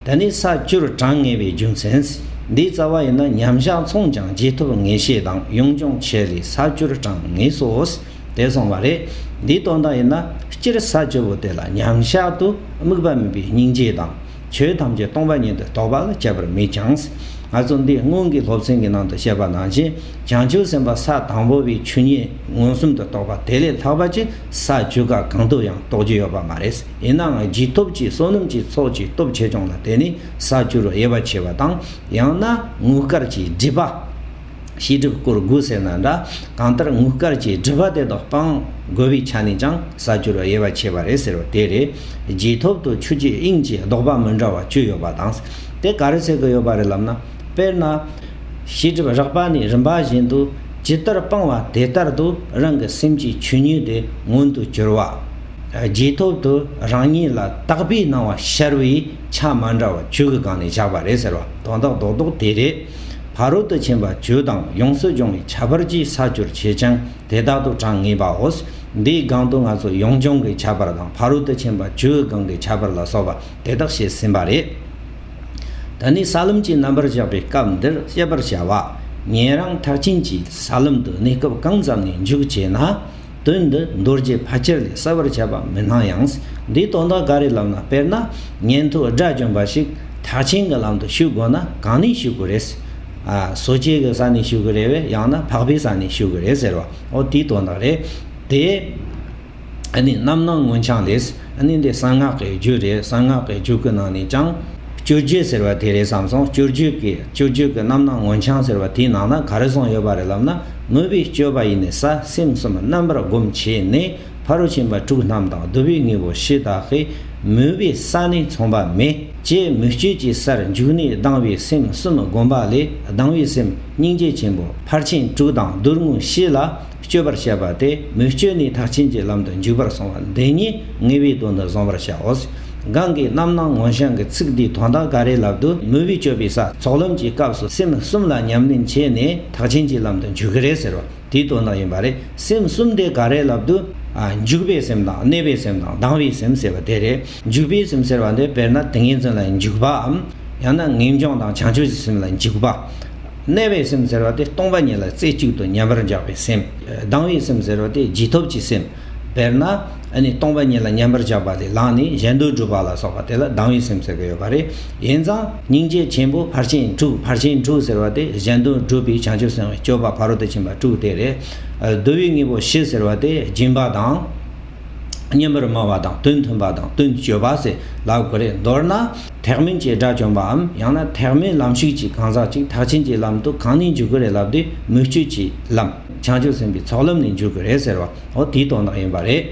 འདི་ནི་ས་བཅུར་གྲངས་ངེས་པའི་རྒྱུ་མཚན། འདིའི་རྩ་བ་ཡིན་ན་མཉམ་གཞག་མཚུངས་ཀྱང་རྗེས་ཐོབ་ངེས་ཤེས་དང་དབྱུང་སྦྱོང་བྱས་ལས་ས་བཅུར་གྲངས་ངེས་སོ། དེ་སོང་བ་རེད། འདིའི་དོན་དག་ཡིན་ན་སྤྱིར་ས་བཅུ་པོ་དེ་ལ་མཉམ་གཞག་ཏུ་དམིགས་པ་མིན་པའི་སྙིང་རྗེ་དང། ཆོས་ཐམས་ཅད་སྟོང་པ་ཉིད་དུ་རྟོགས་པ་ལ་དཔྱད་པར་དམིགས་ཀྱང། ང་ཚོ་འདིའི་སྔོན་གྱི་སློབ་ཚན་གྱི་ནང་དུ་བཤད་པ་ནང་བཞིན་བྱང་ཆུབ་སེམས་དཔའ་ས་དང་པོ་བའི་ཆོས་ཉིད་མངོན་སུམ་དུ་རྟོགས་པ་དེ་ལས་ལྷག་པ་ཅི་ས་བཅུ་ག་གང་དུ་ཡང་རྟོགས་རྒྱུ་ཡོད་པ་མ་རེད། ཡིན་ནའང་རྒྱུད་སྟོབས་ཀྱིས་བསོད་ནམས་ཀྱི་ཚོགས་ཀྱི་སྟོབས་ཆེ་ཆུང་ལ་བལྟས་ནས་ས་བཅུར་དབྱེ་བ་ཕྱེ་བ་དང་ཡང་ན་དངུལ་དཀར་གྱི་སྒྲིབ་པ། ཤེས་སྒྲིབ་སྐོར་དགུ་ཟེར་ན་འདྲ་གང་ལྟར་དངུལ་དཀར་གྱི་སྒྲིབ་པ་དེ་དག་སྤང་དགོས་པའི་ཆ་ནས་ཀྱང་ས་བཅུར་དབྱེ་བ་ཕྱེ་བ་རེད་ཟེར་བ་དེ་རེད། རྒྱུད་སྟོབས་དུ་ཆུ་སྐྱེས་དབྱིངས་ཀྱི་ལྡོག་པ་མི་འདྲ་བ་བཅུ་ཡོད་པ་དང། དེ་ག་རེ་བྱེད་དགོས་ཡོད་པ་རེད་ལབ་ན། དཔེར་ན། ཤེས་སྒྲིབ་རགས་པ་ནི་རིམ་པ་བཞིན་དུ་ཇི་ལྟར་སྤང་བ་དེ་ལྟར་དུ་རང་གི་སེམས་ཀྱི་ཆོས་ཉིད་དེ་མངོན་དུ་གྱུར་བ། རྗེས་ཐོབ་ཏུ་རང་ཉིད་ལ་བརྟག་པའི་སྣང་བ་ཤར་བས་ཆ་མ་འདྲ་བ་ཆོས་ཀྱི་སྒང་ནས་བཞག་པ་རེད་ཟེར་བ་དོན་དག་རྡོག་རྡོག་དེ་རེད། ཕ་རོལ་ཏུ་ཕྱིན་པ་ཇོ་དང་ཡོངས་སུ་སྦྱོང་བའི་བྱ་བར་གྱིས་ས་བཅུར་བྱས་ཀྱང་དེ་དག་ཏུ་དྲང་ངེས་པའོ། འདིའི་སྒང་དུ་ང་ཚོ་ཡོངས་སྦྱོང་གི་བྱ་བར་དང་ཕ་རོལ་ཏུ་ཕྱིན་པ་ཇོའི་སྒང་གི་བྱ་བར་ལ་སོགས་པ་དེ་དག་བཤད་ཟིན་པ་རེད། ད་ནི་ས་ལམ་གྱི་རྣམ་པར་བཞག་པའི་སྐབས་འདིར་དཔྱད་པར་བྱ་བ། ཉན་རང་མཐར་ཕྱིན་གྱིས་ས་ལམ་དུ་གནས་སྐབས་གང་ཙམ་ནས་འཇུག་ཅེ་ན། དོན་འདི་མདོ་རྒྱུད་ཕལ་ཆེར་ལས་གསལ་བར་ཆད་པ་མི་སྣང་ཡང། འདིའི་དོན་དག་འགའ་རེ་ལབ་ན་དཔེར་ན། ཉན་ཐོས་དགྲ་བཅོམ་པ་ཞིག་ཐག་ཆེན་གྱི་ལམ་དུ་ཞུགས་དགོས་ན་གང་ནས་ཞུགས་དགོས་རེད། ཟོ་ཆས་ཀྱི་ས་ནས་ཞུགས་ཀྱི་རེད་བས་ཡང་ན་འཕགས་པའི་ས་ནས་ཞུགས་ཀྱི་རེད་ཟེར་བ་འོ་དེའི་དོན་དག་རེད་དེ། འདི་ནི་རྣམ་སྣང་མངོན་བྱང་ལས། ནི་འདི་གསང་སྔགས་ཀྱི་རྒྱུད་རེད་གསང་སྔགས་ཀྱི་རྒྱུད་ཀྱི་ནང་ནས་ཀྱང། བཅུ་རྒྱུད་ཟེར་བ་དེ་རེད་བསམ་སོང་བཅུ་རྒྱུད་ཀྱི་བཅུ་རྒྱུད་ཀྱི་རྣམ་སྣང་མངོན་བྱང་ཟེར་བ་དེའི་ནང་ན་ག་རེ་ཟུང་ཡོད་པ་རེད་ལབ་ན་དངོས་པོའི་སྤྱོད་པ་ཡིན་ནས་ས་སེམས་གསུམ་རྣམ་པར་སྒོམ་བྱས་ནས་ཕ་རོལ་ཕྱིན་པ་དྲུག་རྣམས་དང་བསྡུ་བའི་དངོས་པོ་ཞེས་དག་གི་མོས་པའི་ས་ནི་མཚུངས་པ་མེད་ཅེས་མོས་སྤྱོད་ཀྱི་སར་འཇུག་ནས་སྡང་བའི་སེམས་གསུམ་སྒོམ་པ་ལས་སྡང་བའི་སེམས་སྙིང་རྗེ་ཆེན་པོ་ཕར་ཕྱིན་དྲུག་དང་བསྡུར་དངོས་གཞི་ལ་སྤྱོད་པར་བྱེད་པ་སྟེ་མོས་སྤྱོད་ནི་མཐར་ཕྱིན་གྱི་ལམ་དུ་འཇུག་པར་སོང་བ་འདི་ཉིད་ངེས་པའི་དོན་དུ་བཟང་བར་བྱའོ། གང་གིས་རྣམ་སྣང་ངོ་བྱང་གི་ཚིག་འདིའི་དོན་དག་ག་རེ་ལབ་ཏུ་མོས་པའི་སྤྱོད་པའི་ས་ཚོགས་ལམ་གྱི་སྐབས་སུ་སེམས་གསུམ་ལ་ཉམས་ལེན་བྱས་ནས་མཐར་ཕྱིན་གྱི་ལམ་དུ་འཇུག་གི་རེད་ཟེར་བ་དེའི་དོན་དག་ཡིན་པ་རེད་སེམས་གསུམ་དེ་ག་རེ་ལབ་ཏུ། འཇུག་པའི་སེམས་དང་གནས་པའི་སེམས་དང་ལྡང་བའི་སེམས་ཟེར་བ་དེ་རེད། འཇུག་པའི་སེམས་ཟེར་བ་འདི་དཔེར་ན་ཏིང་ངེ་འཛིན་ལ་འཇུག་པའམ། ཡང་ན་ངེས་འབྱུང་དང་བྱང་ཆུབ་ཀྱི་སེམས་ལ་འཇུག་པ། གནས་པའི་སེམས་ཟེར་བ་དེ་སྟོང་པ་ཉིད་ལ་རྩེ་གཅིག་ཏུ་མཉམ་པར་འཇགས་པའི་སེམས། སྡང་བའི་སེམས་ཟེར་བ་དེ་རྗེས་ཐོབ་ཀྱི་སེམས། དཔེར་ན། སྟོང་པ་ཉིད་ལ་མཉམ་པར་འཇགས་པ་ལས་ལངས་ནས་གཞན་དོན་སྒྲུབ་པ་ལ་སོགས་པ་དེ་ལ་སྡང་བའི་སེམས་ཟེར་གྱི་ཡོད་པ་རེད། ཡིན་ཙང། སྙིང་རྗེ་ཆེན་པོ་ཕར་ཕྱིན་དྲུག་ཕར་ཕྱིན་དྲུག་ཟེར་བ་དེ་གཞན་དོན་སྒྲུབ་པའི་བྱང་ཆུབ་སེམས་སྤྱོད་པ་ཕ་རོལ་ཏུ་ཕྱིན་པ་དྲུག་དེ་རེད། བསྡུ་བའི་དངོས་པོ་བཞི་ཟེར་བ་དེ་སྦྱིན་པ་དང། སྙན་པར་སྨྲ་བ་དང་དོན་མཐུན་པ་དང་དོན་སྤྱོད་པ་ཟེར་ལ་དགོས་རེད། མདོར་ན། ཐེག་དམན་བྱེ་བྲག་བྱོན་པའམ་ཡང་ན་ཐེག་དམན་ལམ་ཞུགས་ཀྱི་གང་ཟག་ཅིག་ཐག་ཆེན་གྱི་ལམ་དུ་གང་ནས་འཇུག་གི་རེད་ལབ་དུས་མུ་ཁྱུད་ཀྱི་ལམ་བྱང་ཆུབ་སེམས་དཔའི་ཚོགས་ལམ་ནས་འཇུག་གི་རེད་ཟེར་བ་འོ་དེའི་དོན་དག་ཡིན་པ་རེད།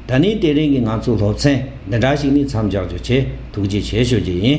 ད་ནི་དེ་རིང་གི་ང་ཚོའི་སློབ་ཚན་འདི་འདྲ་ཞིག་ནི་མཚམས་འཇགས་རྒྱུ་ཆེད་ཐུགས་རྗེ་ཆེ་ཞུ་རྒྱུ་ཡིན།